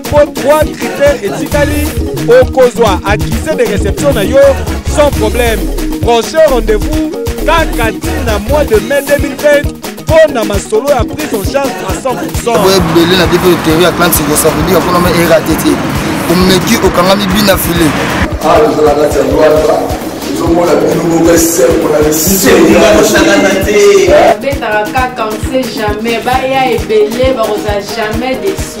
mpo 3 critères etikali okozwa accusé de réception na yo sans problème prochain rendez-vous kaka ntina mois de mai 2020 mpo na masolo ya prise en charge à 100 boye ebele na biso eteori ya clan siko ça veut dire mpona ma erate te omeki okangami bina file awa tozala kati ya lwata ezomona bino moko esembo na bisoosakana te babetaka kaka on sait jamais baya ebele bakozala jamais desi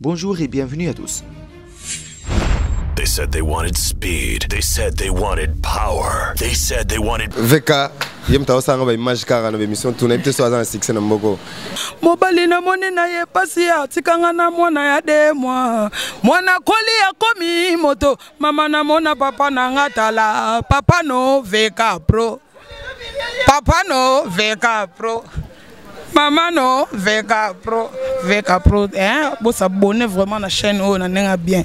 Bonjour et bienvenue à tous. They said they wanted speed. They said they wanted power. They said they wanted VK ye moto aosala ba image kaka na bemission tuna ye mpe so aza na succès na mboko mobali namoni na ye mpasi ya atikanga na mwana ya de mwa mwana koli akomi moto mama namona papa na nga tala papa no veka pro Papa no veka pro. Maman no veka pro. Veka pro. Hein? Bo s'abonner vraiment na chaîne oyo na nenga bien.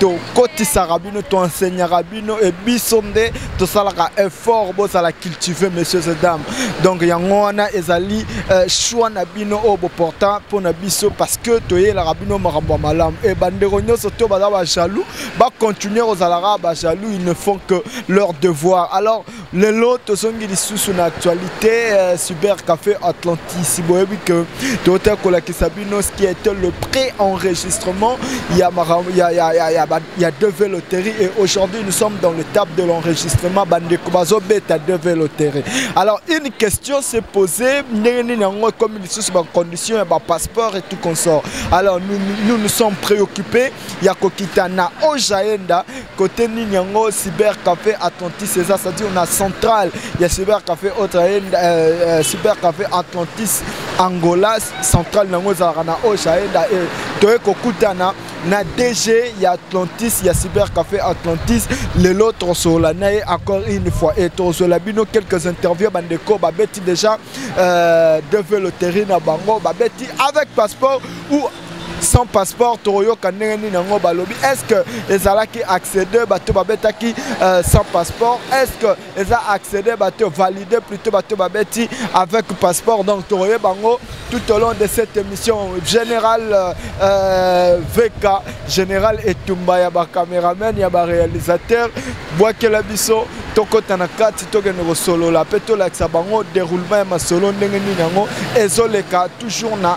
tokotisaka bino toenseignaka bino e biso nde tosalaka effort bozala cultive messieurs et dames donc yango wana ezali euh, choix na bino oyo boporta mpo na biso parce que toyelaka bino makambo ya malamu e bandeko nyonso to baza bajaloux bacontinue kozalaka bajaloux ils ne font que leur devoir alors lelo tozongi lisusu na actualité euh, cyber café atlantis boyebi ke tootaki kolakisa bino ce qui était le pré enregistrement ya, ya, ya, ya, ya, ya deve loterie et aujourd'hui nous sommes dans le table de l'enregistrement bandeko bazobeta deve loterie alors une question s'est posée ndenge nini yango ekomi lisusu bacondition ya bapasseport et tout consort alors nous nous, nous sommes préoccupés ya kokita na ojaenda Côté nini yango cyber café Atlantis eza c'est-à-dire na centrale ya cyber café autre euh, euh, cyber café Atlantis Angola centrale nango ezalaka na Osha enda euh, toye kokutana na DG ya Atlantis ya cyber café Atlantis lelo tosola na ye encore une fois et tosola bino quelques interviews bandeko babeti déjà euh, develo terrain na bango babeti avec passeport ou sans passeport tokoyoka ndenge nini yango balobi est ce que ezalaki accédé bato babetaki euh, sans passeport est ce que eza accédé bato validé plutôt bato babeti avec passeport donc tokoyeba yango tout au long de cette émission général euh, euh vk général etumba ya bacameraman ya baréalisateur bwakela biso tokɔta na kati tokende kosolola mpe tolakisa bango déroulement ya masolo ndenge nini yango ezoleka toujours na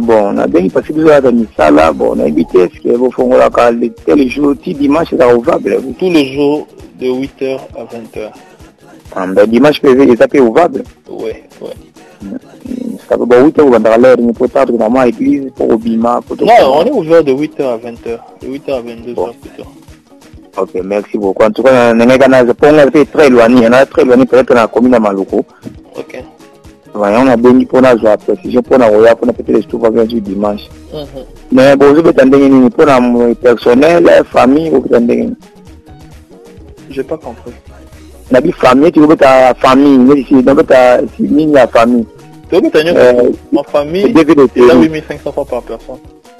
bon nabengi pasi biso yaka misala bon nayebi te eske bofongolaka tel jour ti dimanche ezaka ovable tous les jours de 8 heures à 20 heures ah, ba dimanche mpe eza mpe ovable oui oui sape ba 8 heures obandaka lere ni mpo tatu na mwa église mpo kobima non on est ouvert de 8 heures à 20 heures de 8 heures à 22 bon. heures plutôt Ok, merci beaucoup. En tout cas, Nenega Naza, Ponga, c'est très éloigné. On a très éloigné peut-être dans la commune de Maluku. okay. yango nabengi mpo nazwa précision mpo na koya kuna peut-être je trouve bien dimanche mhm. mais bozobeta ndenge nini mpo na personnel famille bokita ndenge nini je pas compris nabi famille ti kobeta famille neti nabeta nini ya famille tobeta nyonso ma famille eza 8500 francs par personne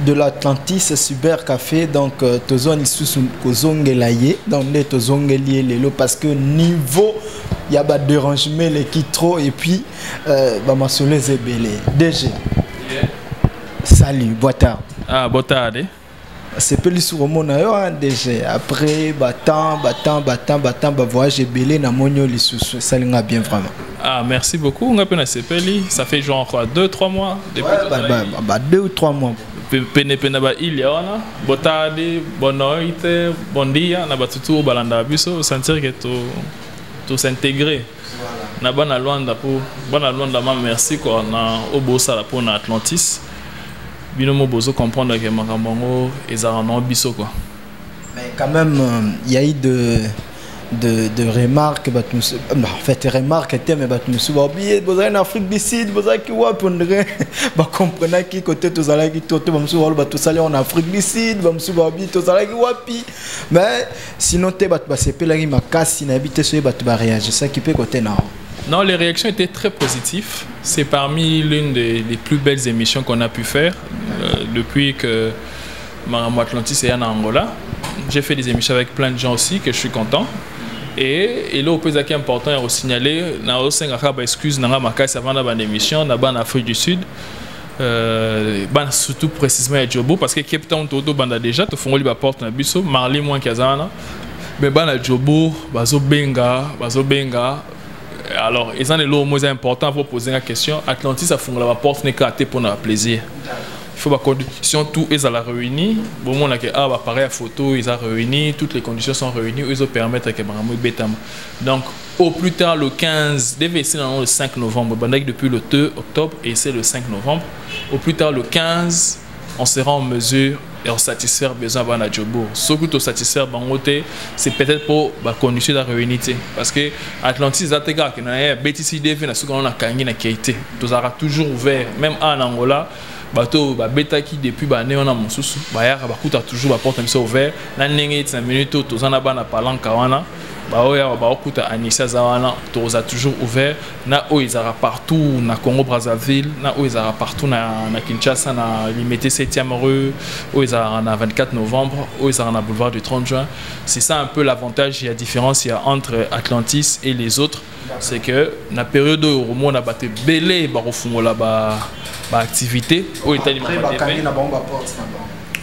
de l'Atlantis Cyber Café donc euh, tozwa lisusu kozongela ye donc nde tozongeli ye lelo parce que niveau ya ba dérangement eleki trop et puis euh, bamasolo eza ebele DG salut boa tarde ah boa tarde asepeli sur omona yo hein, DG après batemps batemps batemps batemps bavoyage ebele na moni yo lisusu esalinga bien vraiment Ah, merci beaucoup. On a peine sepeli. Ça fait genre quoi, deux, trois mois depuis ouais, bah, bah, bah, deux ou trois mois. Pene pene ba il y a ona. Botadi, bonne noite, bon dia. Na batutu balanda biso. Sentir que tout tout s'intégrer. Na bana Luanda pour bana Luanda ma merci quoi. Na obosa la pour na Atlantis. Bino mo bozo comprendre que makambo ngo ezara na biso quoi. Mais quand même, il euh, y a eu de de, de remarques bato mosusu euh, en fait remarque te mais bato mosusu baobiye bozalaki na afrique du sud bozalaki wapi ondire bacomprenaki kote tozalaki to te bamosusu baloba tosali yango na afrique du sud bamosusu baobi tozalaki wapi mais sinon te bato basepelaki makasi nayebi te soki bato bareagisaki mpe kote na yango Non, les réactions étaient très positives. C'est parmi l'une des, des, plus belles émissions qu'on a pu faire euh, depuis que Makambo Atlantis eya na Angola. J'ai fait des émissions avec plein de gens aussi que je suis content. Et il est important à signaler, na osenga kaba excuse na makasi avant la émission na ban Afrique du Sud. Euh, ban surtout précisément à Djobo parce que Cape Town tout banda déjà tout fongoli ba porte na biso Marley moins kazana mais ban à Djobo bazo benga bazo benga alors ils ont les lots moins importants pour poser la question Atlantis a fongoli la porte n'est qu'à pour notre plaisir il faut ba conditions tout ezala réuni bomona ke awa bapareil ya photo eza réuni toutes les conditions sont réunies oyo ezopermettre ke makambo ebetama donc au plus tard le 15 devait essayer le 5 novembre bandaki depuis le 2 octobre et c'est le 5 novembre au plus tard le 15 on sera en mesure et on satisfaire besoin bana jobour soki tosatisfaire bango te c'est peut-être mpo bacondition eza réuni te parce que atlantis eza te kaka na ye abetisi dv na soki wana nakangi na kei te tozalaka toujours ouvert même a na angola bato oyo babetaki depuis baane wana mosusu bayaka bakuta toujours baporte na biso ouvert na ndenge eti na minute oyo toza na bana palanka wana baoyo awa baokuta anisi aza wana toza toujours ouvert na oyo ezalaka partout na congo brazzaville na oyo ezalaka partout na, na kinshasa na limete 7e rue oyo ezalaka na 24 novembre oyo ezalaka na boulevard du 30 juin c'est ça un peu l'avantage ya différence ya entre atlantis et les autres c'est que na période oyo okomona bato ebele bakofungola baactivité oyo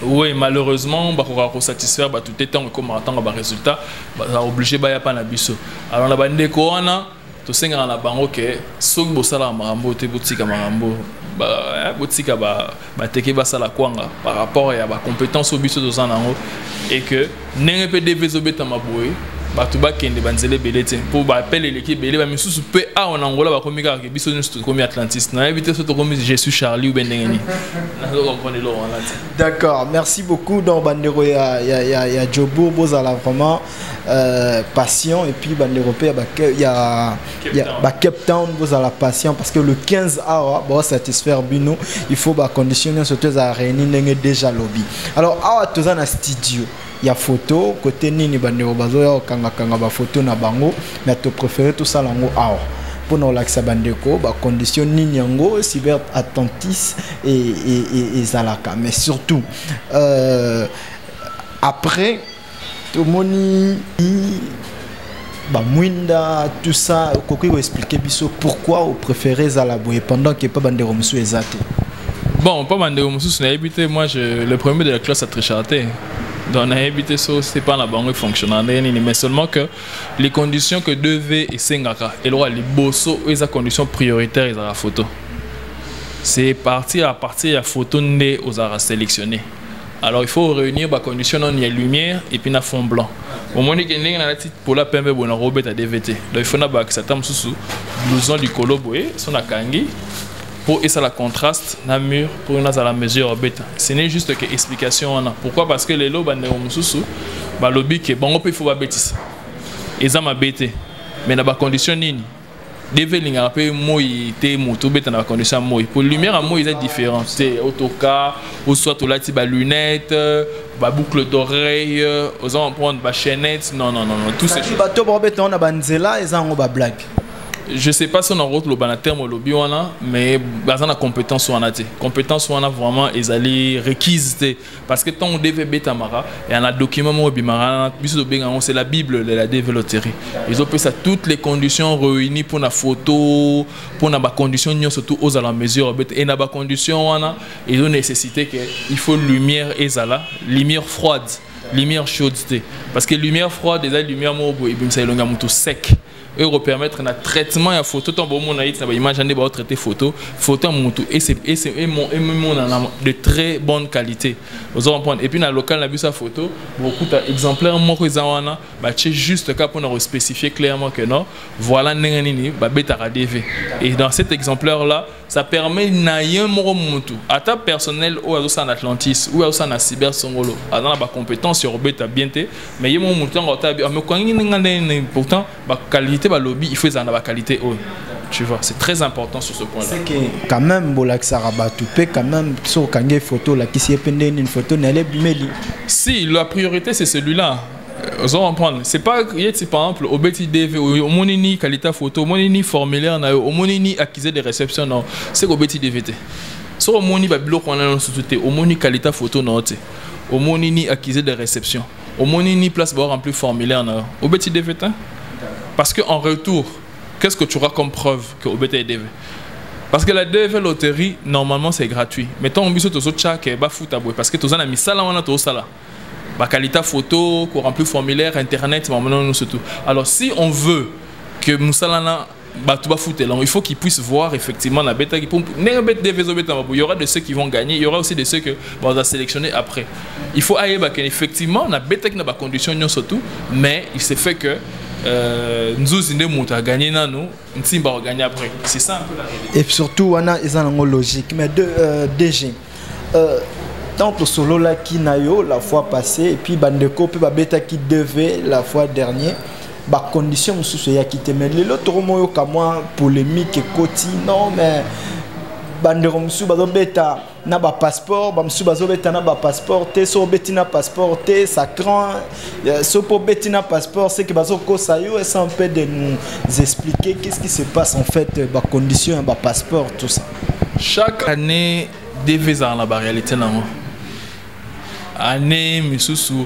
oui malheureusement bakokaka kosatisfaire bato te ntango ekomaka ntango baresultat baza oblige baya mpa na biso alors na bandeko wana tosengaka na bango ke soki bosalaka makambo te botika makambo eh, botika ba bateke basala kwanga par rapport ya bacompétence oyo biso toza nango et que ndenge mpe dv ezobetama boye bato bakende banzela ebele te mpo baapele eleki ebele bamisusu mpe awa na angola bakomi kaka ke biso nyonso tokomi atlantiste nayebi te so tokomi je suis charlie ube ndenge nini nazo comprendre eloko wana te d'accord merci beaucoup donc bandeko ya, ya, ya, ya jobour bozala vraiment Euh, patient et puis bande européen bah, il y a, Cape, y a, bah, Cape Town vous allez patient parce que le 15 awa bon satisfaire bino il faut bah conditionner surtout à réunir n'est déjà lobby alors awa tous en studio il y a photo côté nini bande bazo ya kanga kanga ba photo na bango mais tu préfères tout ça lango awa pour nous l'accès bandeko bah condition nini yango cyber attentis et et et, et zalaka mais surtout euh, après tomoni bamwinda tout ça okoki koexplike biso pourquoi opréféré ezala boye pendant que epa bandeko mosusu eza te bon mpo bandeko mosusu nayebi te moi je, le premier de la classe atrichaka te donc nayebi te so se mpa na bango efonctionna ndenge nini mais seulement que les conditions que 2v esengaka eloko ya liboso oyo eza condition prioritaire ezalaka photo c'est partir à partir ya photo nde ozalaka sélectionné alors il faut réunir ba conditions non ya lumière et puis na fond blanc omoni ke ndenge nalati pola pembe boye nakobeta dvt donc il faut nabakisa ata mosusu blouson likolo boye so nakangi mpo esala contraste na mur mpo nazala mesure ya beta ce n'est juste que explication wana pourquoi parce que lelo bandeko mosusu balobi ke bango mpe il faut babetisa eza mabe te mais na bacondition nini DV elingaka mpe moi te moto obeta na bacondition ya moi mpo lumière ya moi eza différent te otoka oswa tolati balunette baboucle d'oreille oza comprendre bachaînette non non non non tout ces choses bato baobeta wana banzela eza yango bablague je sais pas si on a route le terme au lobby wana mais bazana compétence wana te compétence wana vraiment ezali requise te parce que ntango dv ebetamaka ya na document moko ebimaka biso tobenga yango c'est la bible de la dv loterie ezopesa toutes les conditions réunies mpo na photo mpo na bacondition nyonso tout ozala mesure obeta e na bacondition wana ezo nécessité que il faut lumière ezala lumière froide lumière chaude te parce que lumière froide eza lumière moko boye ebimisa elongi ya moto sec oyo ekopermettre na traitement ya photo ntango bomona yeti na baimage ande baotraite photo photo ya motu emonana de très bonne qualité ozo comprendre epuis na local na biso ya photo bokuta exemplaire moko eza wana batie juste kaka mpona kospécifie clairement que non voilà ndenge nini babetaka dv et dans cet exemplaire là ça permet na ye moko mutu ata personnel oyo azosala na atlantis oyo azosala na cyber songolo aza na bacompétence ya kobeta bien te mais ye moko mutu ntango otabi amekokangi ndenge ndenge pourtant baqualité balobi il faut ezala na baqualité oyo tu vois c'est très important sur ce point là c'est que quand même bolakisaka bato mpe quand même soki okangi ye photo olakisi ye mpe ndenge nini photo na ye ebimeli si la priorité c'est celui là ozo comprendre c'est pas ye ti par exemple obeti dv omoni ni qualité photo omoni ni formulaire na yo omoni ni accusé de réception na yo c'est que obeti dv te soki omoni babiloko wana nyonso tu te omoni qualité photo na yo te omoni ni accusé de réception omoni ni place bao remplir formulaire na yo obeti dv te parce que en retour qu'est-ce que tu auras comme preuve que obeti dv parce que la DV loterie normalement c'est gratuit mais tant biso tozo tchake ba futa boy parce que toza na misala wana tozo sala bakalita photo ko remplir formulaire internet mambo nano nyonso tout alors si on veut que mosala na bato bafutela yango il faut qu'ils puissent voir effectivement na betaki mpo ndenge bet dev ezobetama bo y aura de ceux qui vont gagner il y aura aussi de ceux que baza sélectionner après il faut ayeba que effectivement na betaki na bacondition nyonso tout mais il se fait que euh, nzuzi nde moto aganye nano nsimba aganye après c'est ça un peu la réalité et surtout wana eza nango logique mais de, euh, dg Euh, tant tosololaki na yo la fois passée et puis bandeko mpe babetaki dv la fois dernier bacondition mosusu eyaki te mais lelo tokomoyoka mwa polémique ekoti non mais bandeko mosusu bazobeta na bapasseport bamosusu bazobeta na bapasseport te soki obeti na passeport te ça cran euh, soki mpo obeti na passeport seke bazokosa yo esa mpe de nous expliquer qu'est ce qui se passe en fait bacondition ya bapasseport tout ça chaque année dv ezala na baréalité nango année misusu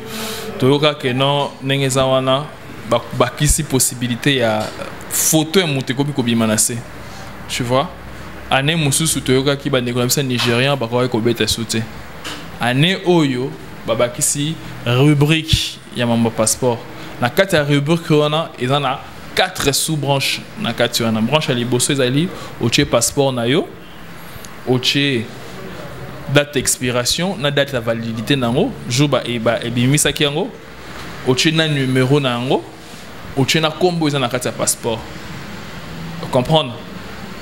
toyoka ke non ndenge eza wana bakisi possibilité ya photo ya moto ekomi kobima na se tu vois année mosusu toyokaki bandeko na biso ya nigérien bakokaki kobeta su te année oyo babakisi rubrique ya mambo ya passeport na kati ya rubrique wana eza na quatre sous branche na kati wana branche ya liboso ezali otie passeport na yo otie date expiration na date ya validité na yango jour baebimisaki yango otie na numero na yango otie na nkombo eza na kati ya passeport comprendre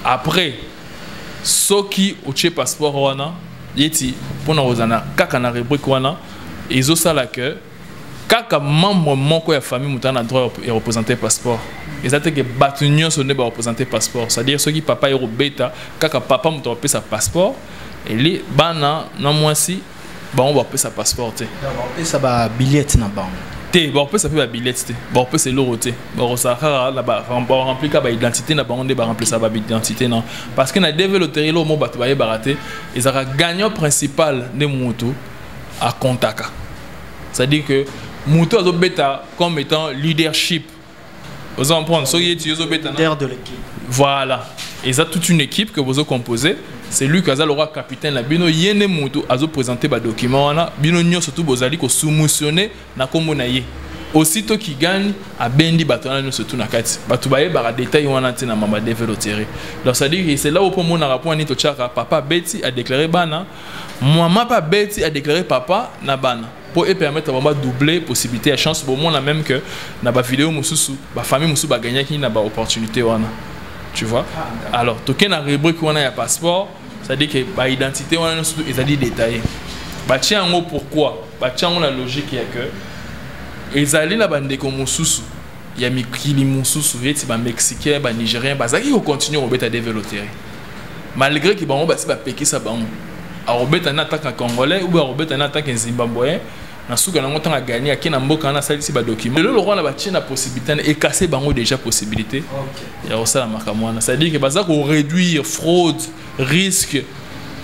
après soki otie passeport wana yeti mpona kozala kaka na rubrique wana ezosala que kaka membre moko ya famille moto na droit ya représenter passeport eza te ke bato nyonso nde bareprésente passeport c'est-à-dire soki papa ye kobeta kaka papa moto akopesa passeport eli bana na mwasi bango bakopesa passeport te bakopesa babiliete na bango te bakopesa mpe babiliete te bakopesa eloko te bakosala kaka barempli kaka baidentité na bango nde baremplisa baidentité na parce que na deve loterie eloko mo bato bayebaka te ezalaka gagnant principal nde motu a contaka c'est à dire que moto azo beta comme étant leadership vous comprenez soki ye tiyo ezobeta leader de l'équipe voilà eza toute une équipe que bozo composer c'est lui qui aza le roi capitaine la bino ye nde moto azo présenter ba document wana bino nyonso tu bozali ko soumissionner na kombo na ye aussitôt qui gagne abendi bato wana nyonso tu na kati bato bayebaka détail wana te na mama develotere donc c'est à dire c'est là opo omonaka mpo ani totyaka papa beti a déclaré bana Muama pe abeti a déclarer papa na bana po e permettre bango ba doubler possibilité ya chance bomona même que na ba vidéo mosusu ba famille mosusu ba gagnaki na ba opportunité wana tu vois alors toke na rubrique wana ya passeport c'est à dire que ba identité wana nyonso ezali détaillé batie yango pourquoi batie yango na logique ya que ezali na bandeko mosusu ya mikili mosusu eti ba mexicain ba nigérien bazalaki kocontinue kobeta develotere malgré que bango basi bapekisa bango akobeta na attaque na congolais oubien akobeta na attaque zimbabween na suka nango ntango agani ake na mboka wana asalisi badocument lelo lokola na batie na possibilité na ekase bango déjà possibilité ya kosala makambo wana c'est à dire que baza koréduire fraude risque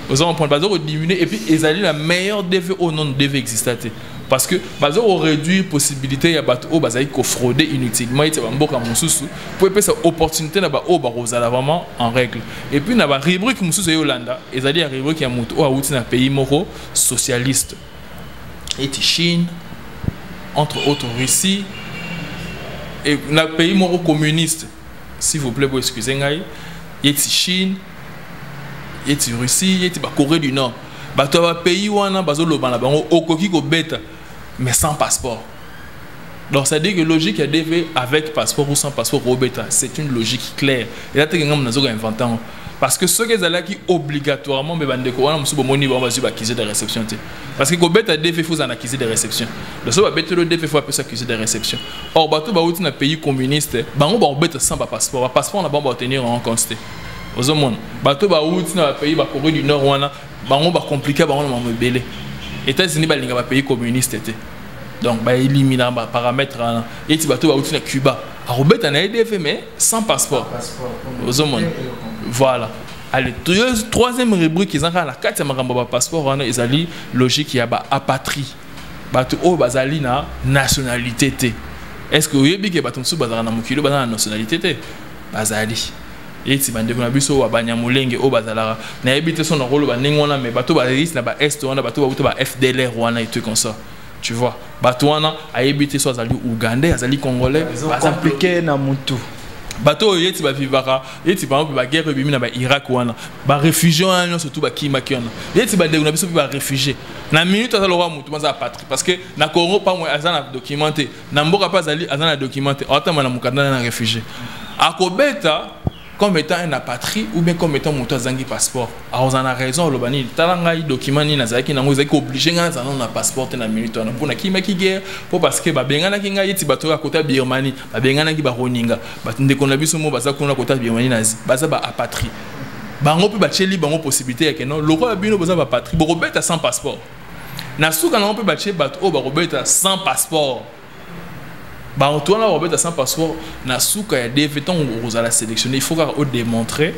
oza comprendre baza kodiminue et puis ezali na meilleur dv oyo nano dv exista te parce que bazo ko réduire possibilité ya bato oyo bazali ko frauder inutilement ete bamboka mosusu mpo epesa opportunité na baoyo bakozala vraiment en règle et puis na barubrike mosusu eyo olanda ezali ya rubrike ya moto oyo awuti na pays moko socialiste ete chine entre autres russie et na pays moko communiste s'il vous plaît boexcuse ngai yeti chine yeti russie yeti bacorée du nord bato ya bapays wana bazoloba na bango okoki kobeta mais sans passeport donc ça dit que logique ya dv avec passeport ou sans passeport kobeta c'est une logique claire eza teke ngambo nazoka invente yango parce que soki ezalaki obligatoirement mpe bandeko wana mosusu bomoni bango bazwi bakize de réception te parce que kobeta dv fo ozala na kize de réception donc soki babetelo dv fo apesa kize de réception or bato bauti na pays communiste bango bakobeta sans bapasseport bapasseport na bango baotenir yango compte te ozomona bato bawuti na bapays ba corée du nord wana bango bacomplike bango na mamo ebele états-unis balinga bapays communiste te donc baelimina baparametre wana eti bato bawuti na cuba akobeta na edf mais sans passeport ozomona voilà allez troisième rubrique eza kaka na kati ya makambo ya bapasseport wana ezali logique ya baapatrie bato oyo bazali na nationalité te est ce que oyebi ke bato mosusu bazalaka na mokili bazala na nationalité te bazali eti bandeko na biso wa banyamulenge oyo bazalaka nayebi te so nakoloba ndenge wana me bato bayeisi na baest wana bato bauta ba fdlr wana etue comme ça tu vois bato wana ayebi te so azali ougandais azali congolais baza mplike na mutu bato oyo yeti bavivaka yeti par exemple baguerre ebimi na bairak wana barefugie wana nyonso tu bakimaki wana yeti bandeko na biso mpe barefugie na minute aza lokola motu maza apatrie parce que na congo pamwe aza na document te na mboka mpe azali aza na document te aotama na mokanda na réfugié akobeta comme étant un apatrie ou bien comme étant moto azangi passeport akozala na raison aloba nini tala ngai document nini nazalaki nango ezalaki oblige ngai nazala na passeport te na minute wana mpo nakimaki guerre mpo parce que babenganaki ngai eti bato oyo akota birmanie babenganaki baroninga bato ndeko na biso mo baza kuna kota birmanie na asie baza ba apatrie bango mpe batyeli bango possibilité yake non lokola bino boza bapatrie bokobeta sans passeport na suka nango mpe batye bato oyo bakobeta sans passeport bato wana bakobeta sans passeport na suka ya dv ntango okozala sélectionné il faut kaka odemontre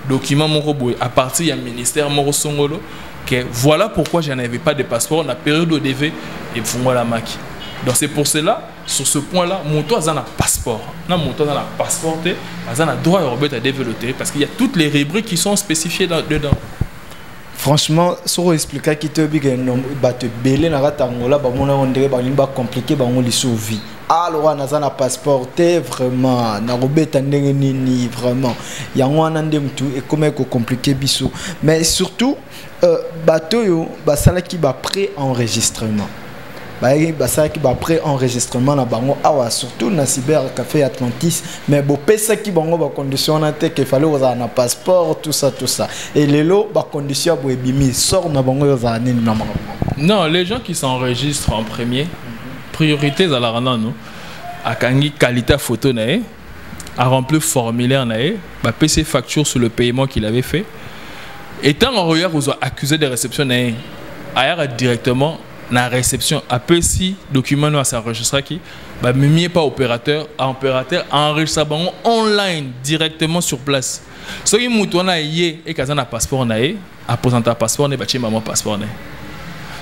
document moko boye à partir ya ministère moko songolo que voilà pourquoi je n'avais pas de passeport na période oyo dv efungolamaki donc c'est pour cela sur ce point là moto aza na passeport na moto aza na passeport te aza na droit ya kobeta dv lotere parce qu'il y a toutes les rubriques qui sont spécifiées dedans franchement soki oexplikaki te oyebi ke bato ebele na kati angola bamona yango ndenge balingi bacomplike bango lisusu vie alors wana aza na passeport te vraiment nakobeta ndenge nini vraiment yango wana nde motu ekomaki kocomplike biso mais surtout euh, bato oyo basalaki ba pré enregistrement bayaki basalaki baprès enregistrement na bango awa surtout na cyber café atlantis mais bopesaki bango bacondition wana te ke fale kozala na passeport tout ça tout ça e lelo bacondition ya boye ebimi sort na bango ezala nini na makambo non les gens qui s'enregistrent en premier priorité ezalaka nano akangi qualité ya photo na ye aremplir formulaire na ye bapesi facture sur le paiement qu'il avait fait etango akoya kozwa accusé de réception na ye ayaka directement na réception apesi document no asenregistraki bamemi ye pa opérateur opérateur enregistra bango online directement sur place soki moto wana ye eke aza na passeport na ye apresenta passeport na ye batie mama passeport na ye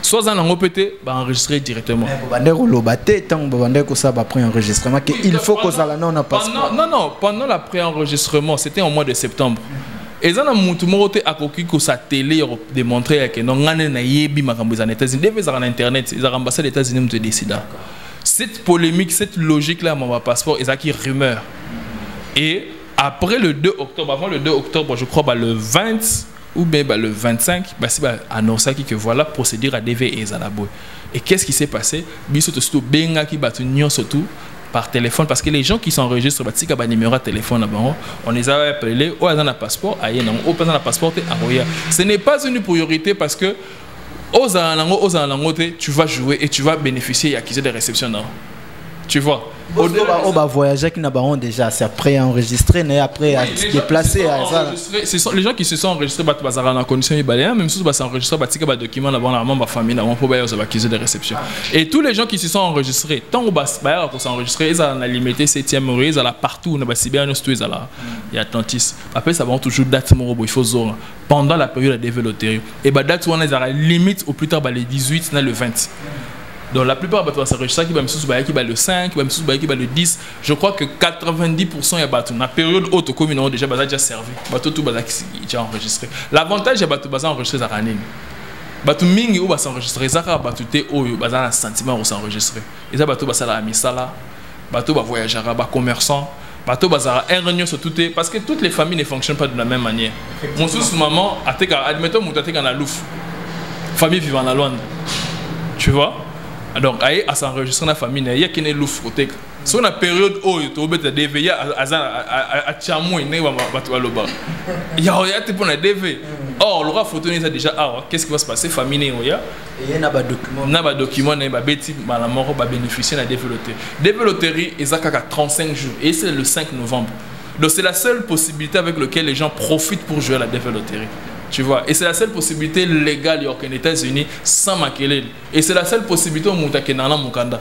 so aza nango mpe te baenregistre directement eh, babandaki koloba te ntango babandaki kosala bapré enregistrement ke il faut kozala nao na passeport non non pendant la pré enregistrement c'était en mois de septembre mm -hmm. eza na mutu moko te akoki kosatele ya kodemontre ya keno ngai nde nayebi makambo eza na états-unis defa ezalaka na internet ezalaka ambassade ya états-unis moto edesida cette polémique cette logique là ya mama passeport ezalaki rumeur et après le 2 octobre avant le 2 octobre je crois ba le 20 ou bien bah, le 25, bah, si bah, annoncé que voilà, procédure à DV et Zalabo. Et qu'est-ce qui s'est passé Biso to sto benga ki batu nyon surtout par téléphone parce que les gens qui s'enregistrent batika ba numéro ya téléphone na bango on les a appelé oyo aza na passeport aye nango oyo mpenza na passeport te akoya ce n'est pas une priorité parce que ozala nango ozala nango te tu vas jouer et tu vas bénéficier ya accusé de réception nango tu vois on va voyager qui n'a pas déjà c'est après enregistré mais après à se déplacer à ça ce sont les gens qui se sont enregistrés bah bazara en condition ibalien même si bah s'enregistrer bah tika bah document là-bas normalement bah famille là on peut bah ils ont accusé de réception Et tous les gens qui se sont enregistrés, tant que bas bas qu'on s'enregistrer, ils ont limité septième heure, ils ont partout, on a si bien nous tous là, il y a tantis. Après ça va toujours date mon robot, il faut zora pendant la période de développer. Et bah date on a limite au plus tard bah, les 18 na le 20. Donc la plupart bato basarejisaki bamisusu bayaki ba le 5 bamisusu bayaki ba le 10 je crois que 90 ya bato na période oyo tokomi nango déjà baza déjà servi bato tu bazalaki déjà enregistré l'avantage ya bato baza enregistré ezalaka nini bato mingi oyo basenregistre eza kaka bato te oyo baza na sentiment ya kosenregistre eza bato basalaka misala bato bavoyagaka bacommerçant bato bazalaka heure nyonso tu te parce que toutes les familles ne fonctionnent pas de la même manière mosusu maman ateka admettons moto ateka na lufu famille vivant na lwanda tu vois donc aye asenregistre na famille na ye yakene lufu koteka so na periode oyo tobeta dv ye achamwe ndenge bato baloba yao ya te mpo na dv mm. or loka foto ne eza déjà awa qu'est ce qui va se passer famille ne oya na badocument na ye babeti mbala moko babénéficie na dv loterie dv loterie eza kaka 35 jours et c'est le 5 novembre donc c'est la seule possibilité avec laquelle les gens profitent pour jouer à la dv loterie Tu vois Et c'est la seule possibilité légale aux États-Unis sans maquerer. Et c'est la seule possibilité au Moutakena Mukanda.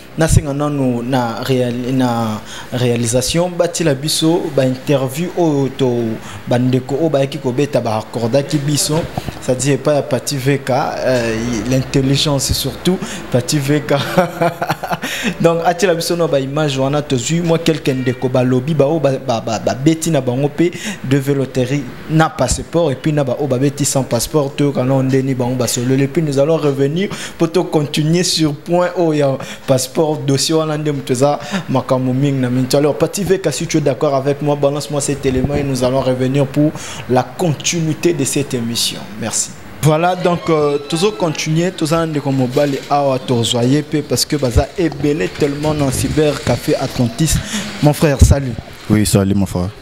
nasenga nanu na, real, na réalisation batila biso bainterview oyo to bandeko oyo bayaki kobeta baakordaki biso c'est-à-dire epai ya pati veka euh, l'intelligence surtout pati veka donc atiela biso na baimage wana tozwi mwa quelque ndeko balobi baoyo babeti ba, ba, ba, na bango mpe de veloterie na passeport et puis na ba oyo babeti sans passeport toyoka nao ndeni bango basololi puis nous allons revenir mpo tocontinue sur point oyo ya passeport dossier wana nde moto eza makambo mingi na minti alors pati veka si tu es d'accord avec moi balance moi cet élément et nous allons revenir pour la continuité de cette émission merci voilà donc euh, tozo continuer toza ndeko mobali awa tozwa ye mpe parce que baza ebele tellement na cyber café atlantis mon frère salut oui salut mon frère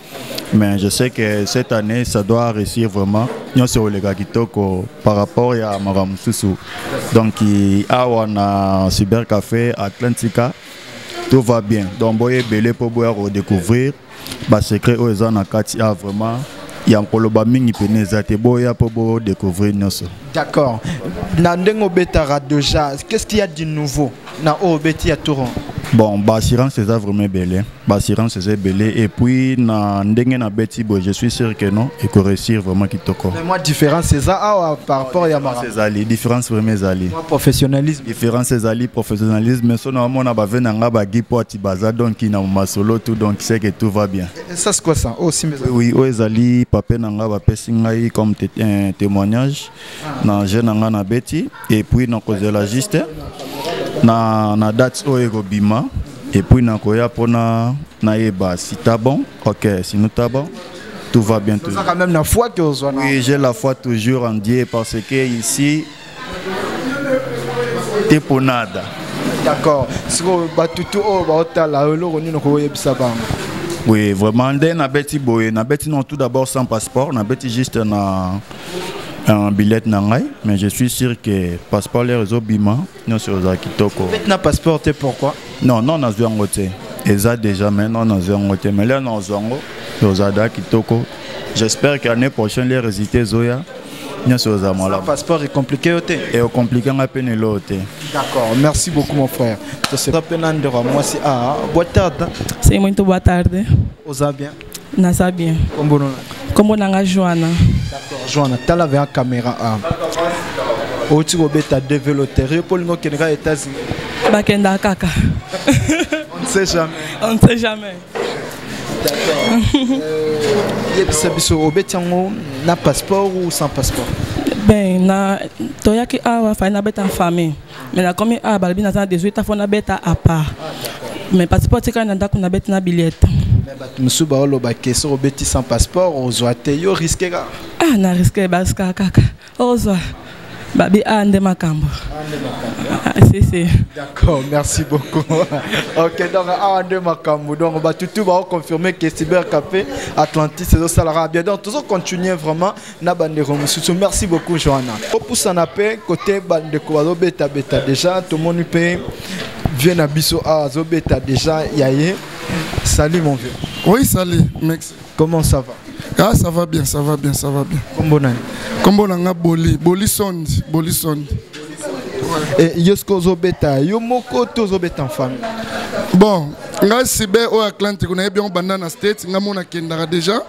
mais je sais que cette année ça doit réussir vraiment nyonso oleka kitoko par rapport ya makambo mosusu donc awa na cybercafé atlantica tout va bien donc boye ebele mpo boya kodécouvrir basecret oyo eza na kati ya vraiment ya koloba mingi pene eza te boya mpo bodécouvrir nyonso d'accord na ndenge obetaka déjà qu'est ce qu'il y a du nouveau na oyo beti ya tour bon baassurance eza vraiment ebele baassurance eza ebele et puis na ndenge na beti boye je suis sûr que non ekoresir vraiment kitoko mwa différence eza awa par rapport ya mara ezali différence vraiment ezali professionnalisme différence ezali professionnalisme so naomona bave na nga bagi mpo ati baza donc na masolo tout donc c'est que tout va bien ça c'est quoi ça oh, oui oyo ezali pape na nga bapesi ngai comme témoignage na jeu na ngai nabeti epuis nakozela juste na, na date oyo ekobima epuis nakoya mpona nayeba si ta bon ok sino ta bon tout va bien toujours. quand même la foi que ozwa oui j'ai la foi toujours en Dieu parce que ici t'es pour nada d'accord sikoyo batutu oyo baotala eloko nini okoyebisa bango oui vraiment nde nabeti boye nabeti non tout d'abord sans passeport nabeti juste na un billet na ngai mais je suis sûr que passeport lere ezobima nyonso ozala kitoko na passeport te pourquoi non non nazwi yango te eza déjà mais non nazwi yango te mais lere nazwi yango ozala da kitoko j'espère que année prochaine les résultats ezoya nyonso ozala malamu passeport ecomplike yo te eocomplike ngai mpe neloo te d'accord merci beaucoup mon frère toseka mpe na ndeko ya mwasi a ah, boa tarde seimento boa tarde oza bien naza bien kombo na kombo na nga joana d'accord joana tala vers caméra a oti kobeta develoterie mpo olingi okende kaka états-unis bakendaka kaka on ne sait jamais on ne sait jamais euh, yebisa biso obeti yango na passeport ou sans passeport ben na toyaki awa fai nabeta famille mais nakomi awa ah, balobi naza na 18 afo nabeta apart mais passeport atikali na ndako nabeti na billiete bato mosusu baoloba ke soki obeti sans passeport ozwa te yo riske kaka ah na riske bariskaka kaka ozwa babi a ah, nde makambo ah, ah, si si d'accord merci beaucoup ok donc awa nde makambo donc batutu baoconfirme ke cybercape atlantis ezosalaka bien donc tozocontinue vraiment na bandeko mosusu merci beaucoup joana opusana mpe kote bandeko bazobetabeta deja tomoni mpe vie na biso awa azobeta deja ya ye salut mon vieux oui salut mex comment ça va ah ça va bien ça va bien ça va bien kombo nani kombo na nga boli boli sondi boli sondi eh, yo soki ozobeta yo moko to ozobeta en famille bon ngai sibe oyo atlantiko nayebi yango banda na state ngai mona akendaka déjà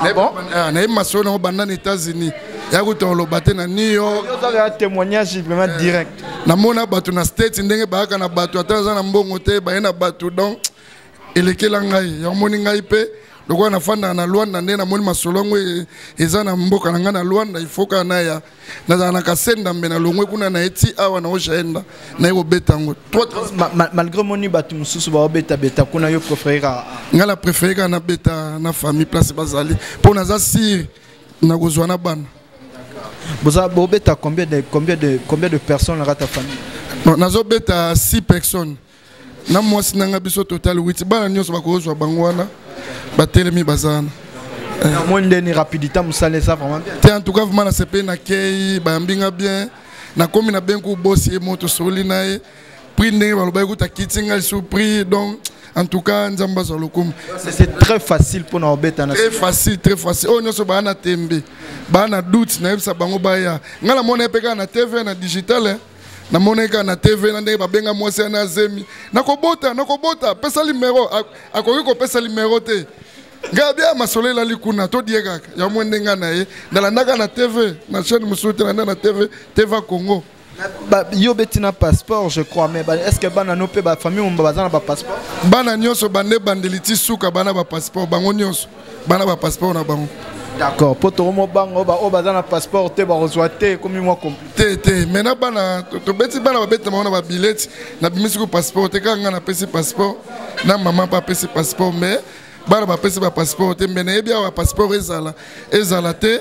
Ah bon? Ah, nayebi masolo nango banda na états-unis ya kuta oloba te na new york ozaka témoignage vraiment eh, direct namona bato na state ndenge bayaka na bato ata aza na mbongo te baye na bato donc elekela ngai yamoni ngai mpe lokola nafandaka na lwanda nde namoni masolo yango e, eza na mboka na ngai na lwanda ifoka naya nazala na kasendambe nalongwe kuna na ye ti awa na ojaenda naye kobeta yango malgré moni bato mosusu baobetabeta kuna yo préféré kaka ngai na préféré kaka nabeta na famille place bazali mpo naza sire nakozwa na bana boza bobeta combien de combien de combien de personnes na kata famille nazobeta 6 personnes na mwasi nanga biso total witi bana nyonso bakozwa bango wana batelemi baza wana namoni ndeni rapidité mosala eza vraiment bien te en tout cas vraiment nasepeli nakei bayambi nga bien nakomi na benki obosi ye moto soli na ye prix ndenge balobaki kuta kiti ngai lisusu prix donc en tout cas nzambe azwa lokumu c'est très facile mpona obeta très facile très facile oyo oh, nyonso baa na tembe baa na doute nayebisa bango baya ngai namona ye mpe kaka na tv na digital eh. namonaki kaka na tv na ndenge babenga mwasi ya na zemi nakobota nakobota apesa limero akoki kopesa limero te ngai bia masolo elali kuna todie kaka ya mwe ndenga na ye nalandaka na tv na chaîne mosusu te nanda na tv tv congo ba, yo beti na passeport je crois mais est ce que bana no mpe bafamille momba baza na bapasseport bana nyonso bande ebandeli ti suka bana bapasseport bango nyonso bana ba passeport na bango d'accord mpo tokomo bango baoyo baza na passeport te bakozwa te ekomi mwa te te mai na bana tobeti bana babetela bango na babileti nabimisi ko passeport te kaka ngai napesi passeport na mama mpe apesi passeport mais bana bapesi bapasseport te mai nayebi awa bapasseport ezala ezala te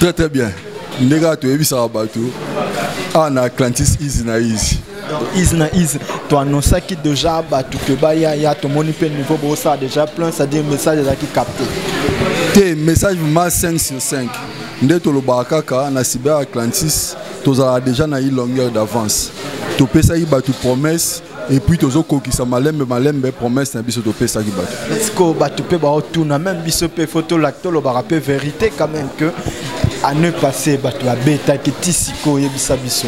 très très bien ndenge kaka toyebisaka bato awa na atlantis easy na easy easy na easy toannonsaki déjà bato ke baya ya tomoni mpe niveau bosala déjà plein c'est-à-dire message ezalaki capté te message ma 5 sur 5 nde tolobaka kaka na cyber atlantis tozalaka déjà na ye longueur d'avance topesaki bato promesse et puis tozo kokisa malembe malembe promesse na biso topesaki bato siko bato mpe baotuna meme biso mpe fo tolobaka mpe vérité quand même que année passé bato babetaki ti siko oyebisa biso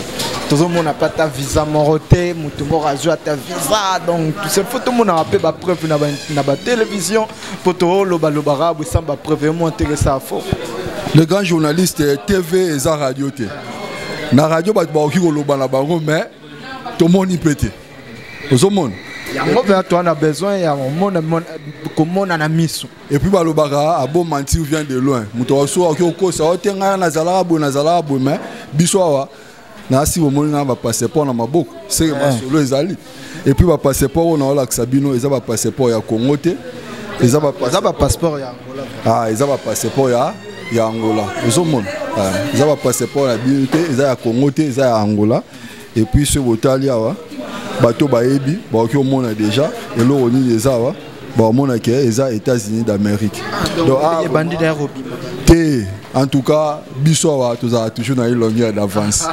tozomona mpe ata visa moko te moto moko azwi ata visa donc fo tomonaka mpe bapreuve na batelevizio mpo tolobaloba bosam bapreuve emo ntekesa fo le grand journaliste tv eza radio te na radio bato bakoki koloba na bango mais tomoni mpe te ozomona yango mpe atoa na besoin ya komona na miso epuis balobaka aboma ah, nti vient de loin moto waso akoki kokosa oyo te ngai nazalaka boye nazalaka boye mai biso awa nasi bomoni ngai bapasseport na maboko seke eh. masolo ezali epuis bapasseport oyo naolakisa bino eza bapasseport ya congo te eza bapasseport ya ah, eza bapasseport ya ya angola ozomona eh, eza bapasseport na bino te eza ya congo te eza ya angola epuis soki botali awa bato bayebi bakoki komona deja eloko nini eza awa bakomona ke eza états-unis d'amérique ah, te en tout cas biso awa tozala toujours na ye longueur d'avance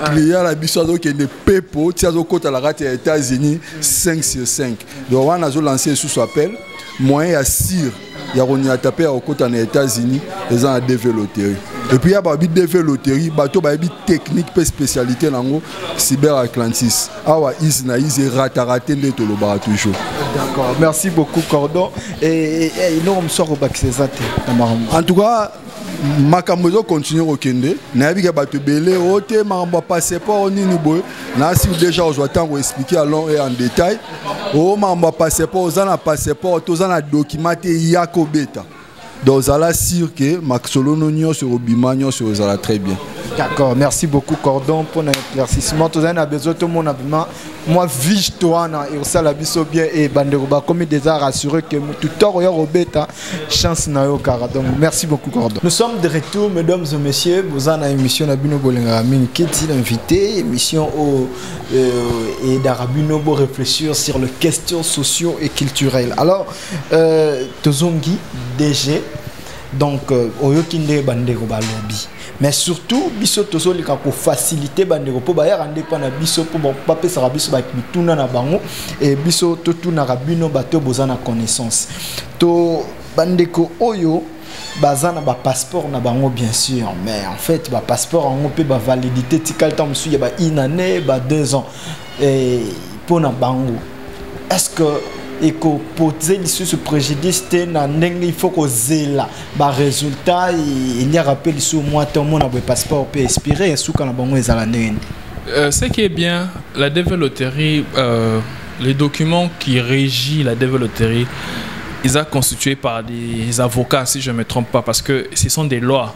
client na biso azokende pepo ti azokota na kati ya états-unis 5 sur 5 donc wana azo lancer lisusu appel moyen ya sire ya konyata mpe ya kokota na états-unis eza na dv loterie epuis ya babi dv loterie bato bayebi technique mpe spécialité na yango cyber atlantis awa ise na ise erataka te nde tolobaka toujours d'accord merci beaucoup cordon eloko mosusu akobakisa eza te na makambo en tout cas makambo ezo continue kokende nayebi ke bato ebele o oh, te makambo ya passeport oh, nini boye nasi deja ozwa ntango explike ya long et en détail o oh, makambo ya passeport oza na passeport toza na document te ya kobeta donc zala sur ke masolono nyonso ekobima nyonso ezala très bien d'accord merci beaucoup cordon mpo na éclaircissement tozali na besoin tomona bima mwa viste wana ekosala biso bien e bandeko bakomi déjà rassuré que motu to akoya kobeta chance na yo kaka donc merci beaucoup cordon nous sommes de retour mesdames et messieurs boza na émission na bino bolingaka mingi keti l'invité émission oyo euh, edaka bino bo réfléchir sur les questions sociaux et culturelles alors euh, tozongi dg donc euh, oyoki nde bandeko balobi mais surtout biso tozolika kofacilite bandeko mpo bayaka nde mpo na biso mpo bapesaka biso mituna na bango e biso totunaka bino bato oyo boza na connaissance to bandeko oyo baza na bapasseport na bango bien sûr mais en fait bapasseport yango mpe bavalidité tikali ntango mosusu ya ba une année ba deux ans mpo na bango est ce que ekopose lisusu préjudice te na ndenge il faut kozela baresultat eliaka mpe lisusu mwa te omona boye passeport mpe expire esuka na bango ezala ndenge nini euh, ce qui est bien la deve loterie euh, les documents qui régit la deve loterie ils sont constitués par des avocats si je ne me trompe pas parce que ce sont des lois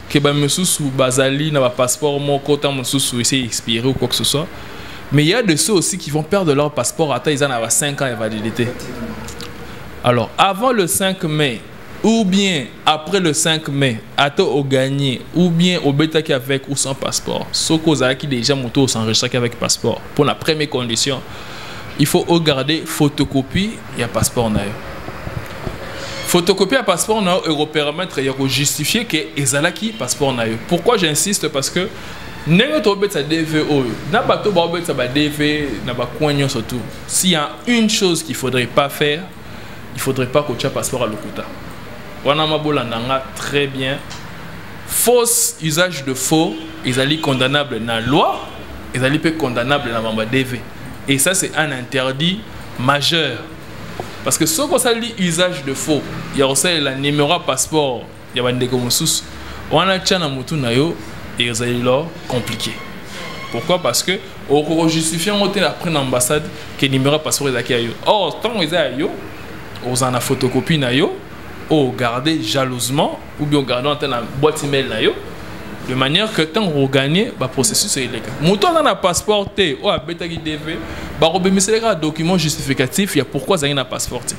que ba mosusu bazali na ba passeport moko temps mosusu ese expiré ou quoi que ce soit mais il y a de ceux aussi qui vont perdre leur passeport ata eza na ba 5 ans ya validité alors avant le 5 mai ou bien après le 5 mai ata ogagné ou bien obetaki avec ou sans passeport soki ozalaki déjà moto osenregistraki avec passeport mpo na première condition il faut ogarde photocopie ya passeport na yo photocopie ya passeport na yo ekopermettre ya kojustifie ke ezalaki passeport na yo pourquoi j'insiste parce que ndenge tobetisa dv oyo na bato baobetisa badv na bacoin nyonso tout s'il y a une chose qu'il faudrait pas faire il faudrait pas kotya passeport ya lokuta wana mabolanda nga très bien fausse usage de faux ezali condamnable na loi ezali mpe condamnable na mamba dv et ça c'est un interdit majeur parce que soki osali usage de faux ya kosalela numéro ya passeport ya bandeko mosusu wana tya na motu na yo ezali lo compliqué pourquoi parce que okojustifie yango te après na ambassade ke numéro ya passeport ezalaki ya yo or ntango eza ya yo ozala na photocopie na yo oyo garde jalousement ou bien ogardant ata na boîte email na yo de manière que ntango kogagne baprocessus eleka moto aza na passeport te oyo abetaki dv bakobimisela kaka document justificatif ya pourquoi azangi na passeport te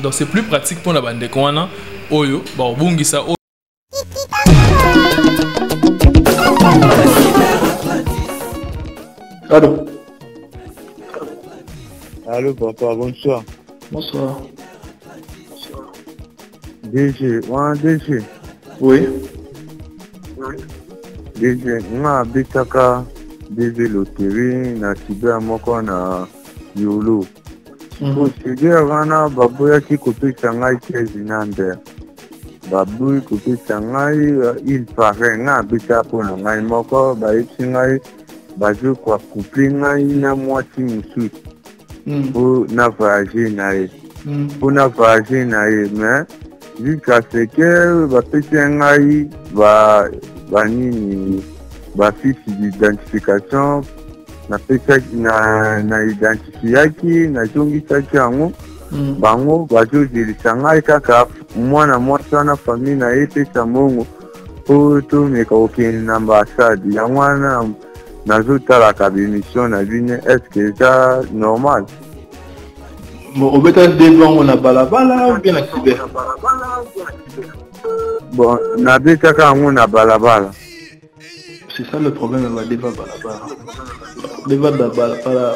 donc c'est plus pratique mpona bandeko wana oyo bakobungisa oyo Allô Allô papa, bonsoir. Bonsoir. DG, wana DG. Oui. DG, nga abetaka DG loterie na cyber moko na Yolo. Mhm. Procedure wana baboyaki kopesa ngai 15 number. Baboyi kopesa ngai euh, il paraît nga abeta mpo na ngai moko bayebisi ngai bazokoa couple ngai na mwasi mosusu mpo hmm. na voyage na ye mpo hmm. na voyage na ye mais jusqu'à ce que bapesi ya ngai banini bafiche d'identification napesaki na identifiaki nazongisaki yango hmm. bango bazozelisa ngai kaka mwana mwasi wana famille na ye epesa mbongo mpo tomeka kokende na ambassade yango wana nazotalaka bemission na bino estce eza normal obeta debi yango na balabala obe na kibe bon nabetaka yango na balabala c'est ça le problème ya badeba balabala deba balabala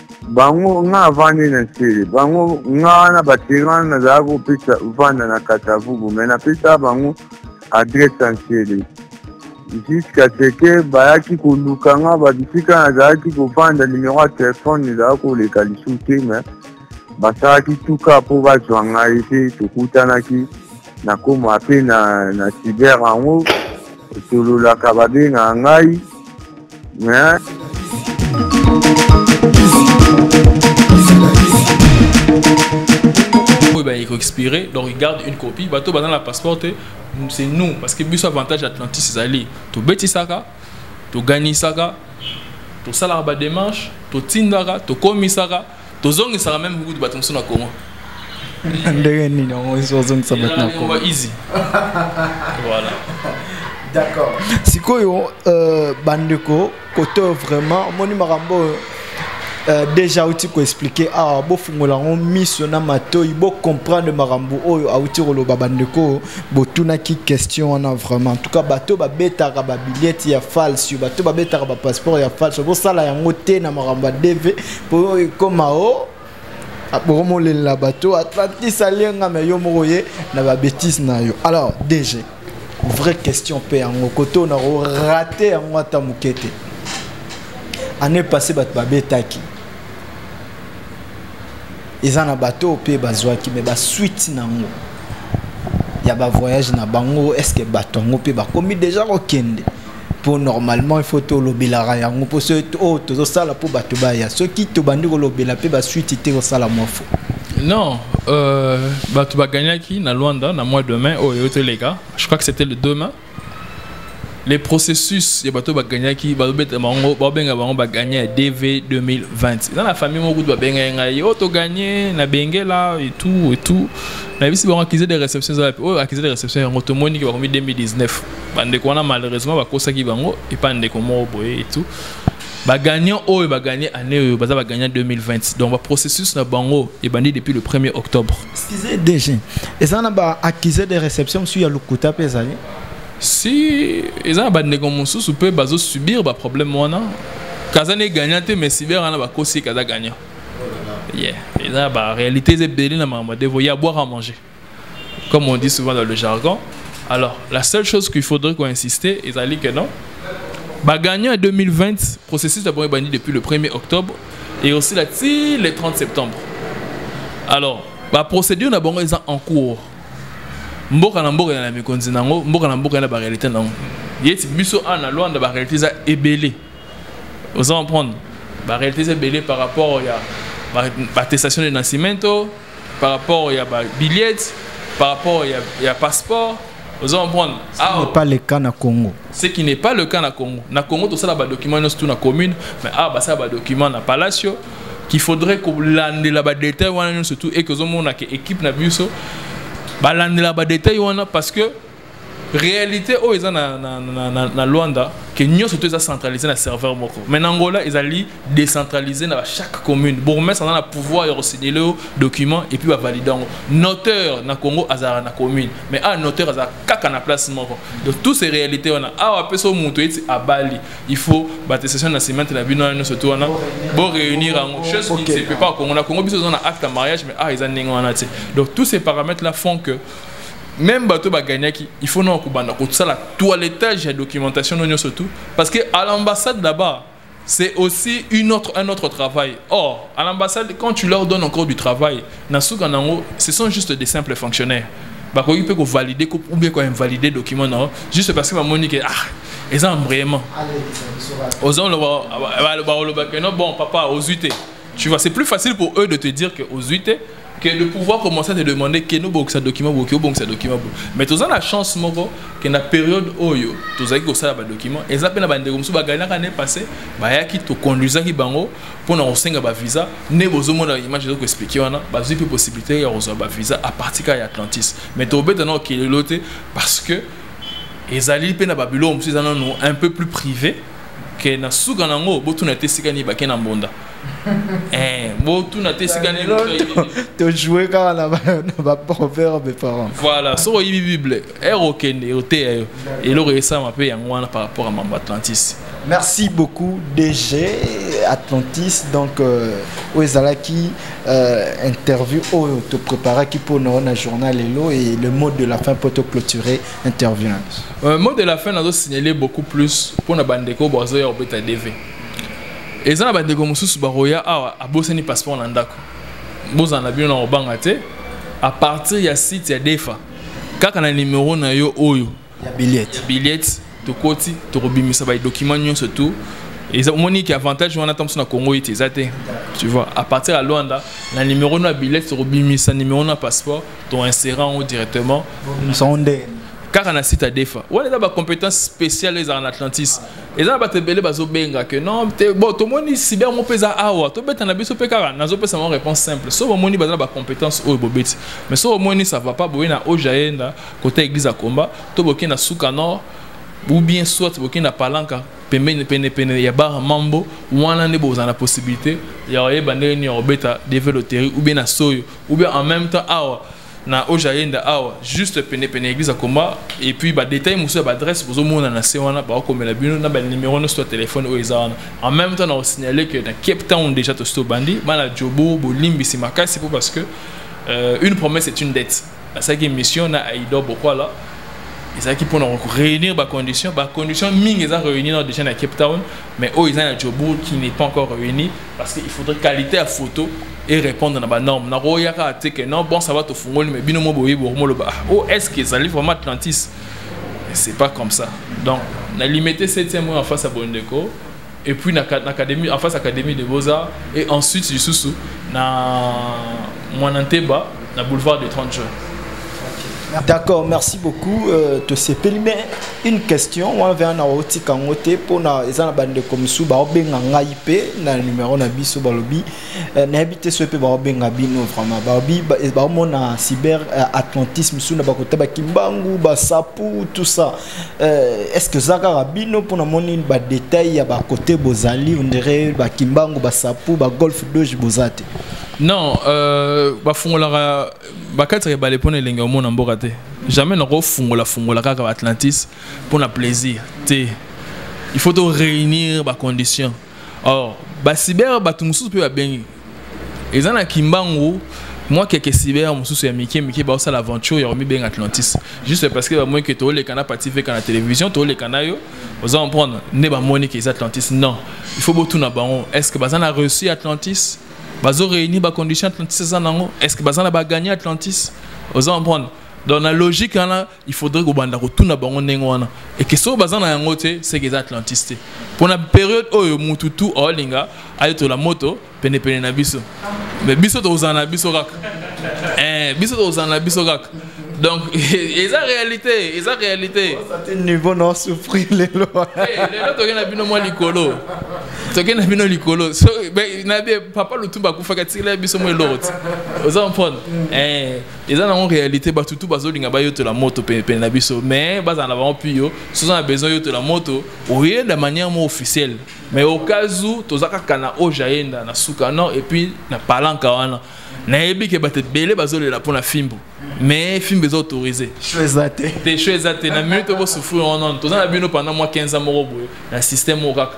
bango nga avandi na nsele bango nga wana baterana nazalaka kopesa vanda na katavubu me napesa bango adresse ya nsele jusqu'à ce que bayaki koluka nga babisika nazalaki kovanda numero ya telefone ezalaki koleka lisusu te me basalaki tuka mpo bazwa ngai mpe tokutanaki nakoma mpe na, na cyber yango tololaka babengaka ngai hein? oyo baye koexpire donc garde une copie bato baza na passeport te c'est nous parce que biso avantage atlantis ezali tobetisaka toganisaka tosalaka bademarche totindaka tokomisaka tozongisaka meme kukutu bato mosusu na congo ndenge nini yango ozongisa bato na congo easy voilà d'accord sikoyo euh, bandeko kote oyo vraiment omoni makambo oyo euh, déjà auti koexplike awa ah, bofungola yango miso na matoi bocomprendre makambo oyo auti koloba bandeko oyo botunaki question wana vraiment en tout cas bato oyo babetaka babiliete ya false bato oyo babetaka bapasseport ya false bosala yango te na makambo ya dv po ekoma o oh, bokomolelela bato atlantis alienga me yo moko ye na babétise na yo alors dg vraie question mpe yango kote oyo nakorate yango ata moke te année passé bato babetaki eza na bato oyo mpe bazwaki me basuite na yango ya bavoyage na bango estce bato yango mpe bakomi deja kokende mpo normalement il faut tolobelaka yango mpo so oyo oh, tozosala mpo bato baya soki tobandi kolobela mpe basuite te kosala mwa fo non euh, bato bagagnaki na luanda na mois de mai oyo eyo toleka je crois que c'était le 2 mai les processus ya bato bagagnaki babeta bango babenga bango bagagna ya dv 2020 eza na famille moko kutu babengaki ngai oyo oh, togagne na bengela etout etout nayebisi bango accusé de réception eza wapi oyo oh, accusé de réception yango tomoni ke bakomi 2019 bandeko wana malheureusement bakosaki bango epa ndeko moko boye etu bagagnant oyo bagagne année oyo baza bagagnant 2020 donc baprocessus na bango ebandi depuis le 1er octobre excuse dg eza na baaccusé de réception mosusu ya lokuta mpe ezali si eza na bandeko mosusu mpe bazosubir baproblème wana kaza ne gagnant te mais cyber wana bakosi kaza gagnant yeah eza ba réalité eza ebele na makambo ya devo ya boire à manger comme on dit souvent dans le jargon. Alors, la seule chose qu'il faudrait qu'on insiste, ils allaient que non. Bah, gagnant en 2020, processus d'abord banni depuis le 1er octobre et aussi là, le 30 septembre. Alors, la bah, procédure d'abord est en cours. mboka na mboka na mikonzi nango mboka na mboka na ba réalité nango yeti biso ana ah, luanda ba réalité za ebele oza comprendre ba réalité za ebele par rapport ya ba attestation de nascimento par rapport ya ba billets par rapport ya, ya passeport ozo comprendre ce ah, n'est pas le cas na Congo ce qui n'est pas le cas na Congo na Congo tosala ba documents nyonso tout na commune mais ah basala ba documents na palacio qu'il faudrait kolandela ba détails wana nyonso tout et que ozomona ke équipe na biso balandela ba détails wana parce que réalité oyo eza na, na, na, na, na luanda ke nyonso to eza centralisé na serveur moko mais na angola ezali décentralisé na chaque commune bourgmestre aza na pouvoir ya kosignele yo document epuis bavalide yango noteur na congo azalaka na commune mais awa noteur aza kaka na place moko donc tout ces réalité wana awa mpe so moto eti abali il faut batestation na cimante na bino wana nyonso to wana boréunir yango chose qui ne se peut pas congo na congo biso eza na acte ya mariage mais awa eza ndenge wana te donc tous ces paramètres là font que meme bato ba gagnaki il faut na kobanda kosala toilettage ya documentation no nyonso tout parce que à l'ambassade là-bas c'est aussi une autre, un autre travail. Or, à l'ambassade, quand tu leur donnes encore du travail, ce sont juste des simples fonctionnaires. bakoki mpe kovalide ou bien koinvalide document na yo juste parce que bamoni ke ah eza embrayement oza oloba balobaka no bon papa ozwi te tu vois c'est plus facile pour eux de te dire que ozwi te que le pouvoir commence à te demander que nous bokisa document boki obongisa document bo mais toza na chance moko que na période oyo tozalaki kosala ba document eza mpe na bandeko mosusu baganaka ne passé bayaki toconduisaki bango mpo na kosenga bavisa nde bozomona image ezo koexplike wana bazwi mpe possibilité ya kozwa bavisa à partir kaka ya atlantis mais tobeta nao kelelo te parce que ezali mpe na babilo mosusu eza nano un peu plus privé ke na suka na yango botuna te esika nini bake na mbonda Eh, botuna te esika nini tojoue kaka na baproverbe parent voilà soki oyibi bible ere eh, okende oteya yo eloko esalama mpe yango wana par rapport ya mambo atlantis merci beaucoup dg atlantis donc euh, oyo ezalaki euh, interview oyo topreparaki mpo na na journal lelo et le mot de la fin mpo toclôturer interview na biso euh, mot de la fin nazo signale beaucoup plus mpo na bandeko bazoya kobeta dv eza na bandeko mosusu bakoya awa abosani passeport na ndako bozala na bino na kobanga te à partir ya site ya defa kaka na numero na yo oyo ya billet billet tokoti tokobimisa badocument nyonso tout eza omoni ke avantage wana ntango mosusu na congo ete eza te tu vois à partir ya luanda na numero na billet tokobimisa numero na passeport toinsere yango directement kaka na site ya defa wana eza bacompétence spéciale ezala na atlantis eza na bato ebele bazobenga ke non te bon tomoni sibi yango mpe eza awa tobeta na biso mpe kaka nazopesa yango réponse simple soki omoni baza na bacompétence oyo bobeti mais soki omoni ça va pas boye na oja yenda kota église ya comba to bokei na suka nord ou bien soit bokei na palanka pembeni penepene ya bar mambo wana nde bozala na possibilité ya koyeba ndenge nini ya kobeta deve loterie ou bien na soyo ou bien en même temps awa ah, na oja yenda awa juste pene pene église akoma et puis ba détails musu ba adresse bozo mona na se wana ba komela bino na ba numéro no soit téléphone oyo eza wana en même temps na signaler que na Cape Town déjà to sto bandi bana jobo bolimbisi makasi po parce que euh, une promesse est une dette asalaki émission na Aïdo Bokwala ezalaki mpona réunir bacondition bacondition mingi eza réunir déjà na cape town mais oyo eza na jobourg qui n'est pas encore réuni parce que il faudrait qualité ya photo et répondre na banorme nakoya kaka te ke non bon ça va tofungoli mais bino mo boyebi bokomoloba ah, o oh, est ce que ezali vraiment atlantis c'est pas comme ça donc na limité septième en face ya bondeko et puis na, na académie, en face académie de beaux-arts et ensuite lisusu na mwana nteba na boulevard de 30 juin D'accord, merci beaucoup. Euh, te sepeli mais une question, on vient na oti kangote pona eza na bande comme sou ba obenga ngai pe na numéro na biso balobi euh, na habite so pe ba obenga bino vraiment. Ba obi ba mona cyber euh, atlantisme sou na ba kota ba kimbangu, ba sapu tout ça. Euh, est-ce que zaka rabino pour moni ba détail ya ba côté bozali on dirait ba kimbangu ba sapu ba golf doge bozate non euh, ba fungolaka ba quatre ba les pona elengi omona mboka te jamais na ko fungola fungola kaka ba atlantis pour na plaisir te il faut to réunir ba conditions or ba cyber ba tout mususu pe ba bengi eza na kimbangu mwa keke cyber mosusu ya mike mike baosala aventure ya komibenga atlantis juste parce que bamoni ke tooleka na pati veka na télévision tooleka na yo oza comprendre nde bamoni ke eza atlantis non il faut botuna bango est ce que baza na reçu atlantis bazo réunir bacondition atlantis eza nango est ce que baza na bagagné atlantis oza comprendre donc na logique wana il faudrait kobanda kotuna bango ndenge wana eke soki baza na yango te seke eza atlantis te mpo na periode oyo mutu tu aolinga ayetola moto penepene na biso me biso tokozala na biso kaka eh, biso tokozala na biso kaka donc eza réalité eza réalité niveau na osouffrir lelo eh, lelo toke na bino mwa likolo toke na bino likolo na papa lutumba akufaka tikela biso mwa eloko te oza comprendre eh, eza nango réalité bato tu bazolinga bayotola moto penepene na biso mais bazala na bango pio soza na besoin yotola moto oye na manière mo officielle mais au cas où toza kaka na oyo jaenda na suka non et puis na palanka wana nayebi ke bato ebele bazolela mpo na fimbo mais fimbo eza autorise te cho eza te na minute bosouffrir wana toza na bino pendant mwa 15 ans moko boye na système moko kaka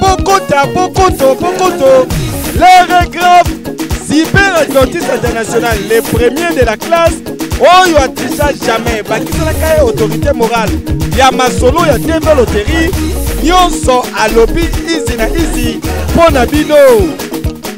bokota bokoto bokoto l'heure grave cyber adventiste international le premier de la classe oyo atrisa jamais bakiselaka ye autorité morale ya masolo ya tv loterie nyonso alobi izi na izi mpo na bino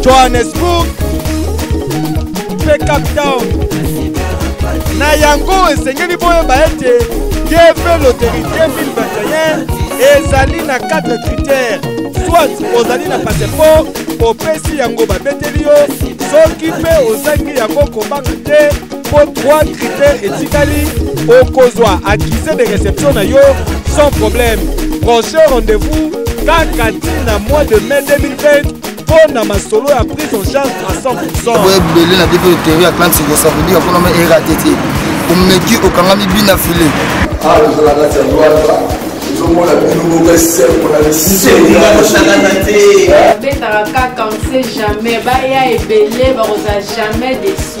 johannesburg mpe cape town na yango esengeli boyeba ete dv loterie 2021 ezali na 4 critères soit ozali na passeport opesi yango babeteli yo soki mpe ozangi yango kobanga te mpo 3 critères etikali okozwa accusé de réception na yo sans problème prochain rendez-vous kaka ntina mois de mai 2020 mpo na masolo ya prise en charge à 100 boye ebele na biso eteri ya clan siko ça veut dire mpona ma erate te omeki okangami bina file awa tozala kati ya lwata tozomona bino moko esembo na biseosangana te babetaka kaka on sait jamais baya ebele bakozala jamais desi